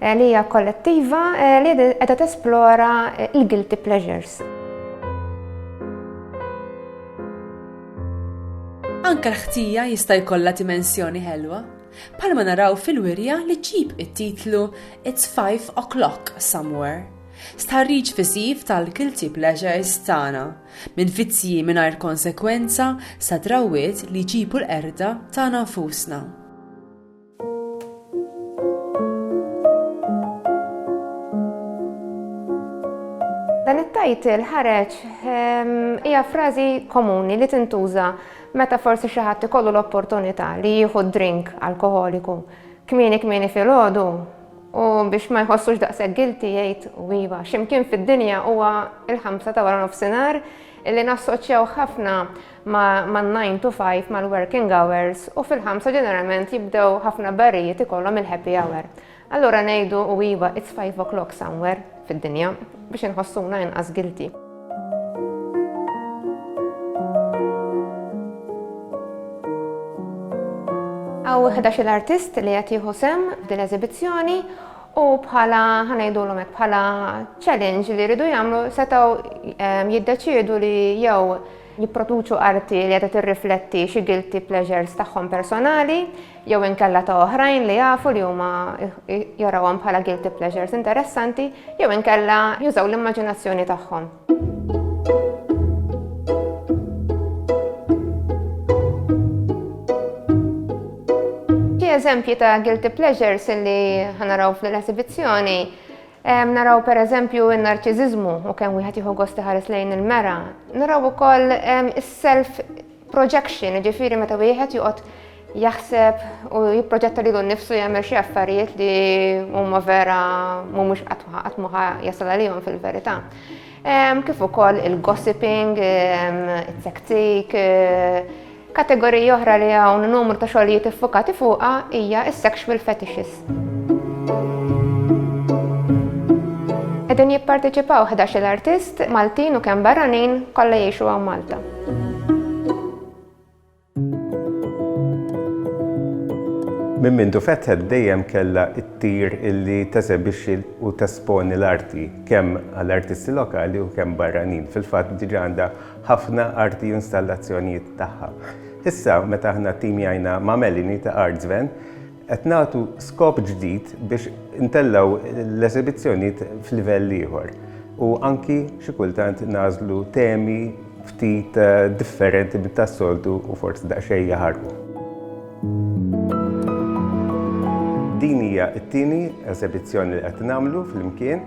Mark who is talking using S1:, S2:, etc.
S1: eh, li hija kollettiva eh, li qiegħda tesplora eh, il-guilty pleasures.
S2: Anka l-ħtija jista' jkollha dimensjoni ħelwa. Palma naraw fil-wirja li ġib it-titlu It's 5 o'clock somewhere. Starriġ fisiv tal-guilty pleasures tagħna, minn vizzji mingħajr konsekwenza sa drawiet li ġibu l-erda tagħna nfusna.
S1: Dan it-title ħareġ ehm, hija frażi komuni li tintuża meta forsi xi ħadd ikollu l-opportunità li jieħu drink alkoholiku kmieni kmieni fil-ħodu u biex ma jħossux daqshekk gilti jgħid u iva x'imkien fid-dinja huwa il-ħamsa ta' wara nofsinhar illi nassoċjaw ħafna man-nine to five, mal-working hours u fil-ħamsa ġeneralment jibdew ħafna barijiet ikollhom il-happy hour. Allura ngħidu u iva it's five o'clock somewhere fid-dinja biex inħossuna inqas guilty. Għaw 11 artist li qed jieħu sem f'din eżibizzjoni U bħala ħanajdu l bħala challenge li rridu jamlu setaw ehm, jiddeċidu li jew jipproduċu arti li qiegħda tirrifletti xi guilty pleasures tagħhom personali jew inkella ta' oħrajn li jafu li huma jarawhom bħala guilty pleasures interessanti jew inkella jużaw l-immaġinazzjoni tagħhom. eżempji ta' guilty pleasures li ħanaraw fl-esibizzjoni Naraw pereżempju n-narċiżiżmu u kemm wieħed jieħu gost iħares lejn il-mera. Naraw ukoll is-self projection, ġifieri meta wieħed joqgħod jaħseb u jipproġetta lilu nnifsu jagħmel xi affarijiet li huma vera mhumiex qatt ma jasal għalihom fil-verità. Kif ukoll il-gossiping, it-taktik, Kategorija oħra li hawn numru ta' xogħlijiet iffukati fuqha hija s-sexual fetishes. Qegħdin jipparteċipaw ħdax-il artist, Maltin u kemm barranin, kollha jgħixu hawn Malta.
S3: Minn mindu fetħet dejjem kellha ttir illi teżebixxi u tesponi l-arti kemm għal artisti lokali u kemm barranin. Fil-fatt diġà għandha ħafna arti u installazzjonijiet tagħha. Issa, meta aħna ttimjajna ma' Melanie ta' Artsven, qed nagħtu skop ġdid biex intellgħu l-esebizzjonijiet f'livell ieħor u anki xi kultant nagħżlu temi ftit differenti minn tas-soltu u forsi daqsxejn jaħarqu. Din hija t-tieni esebizzjoni li qed nagħmlu flimkien.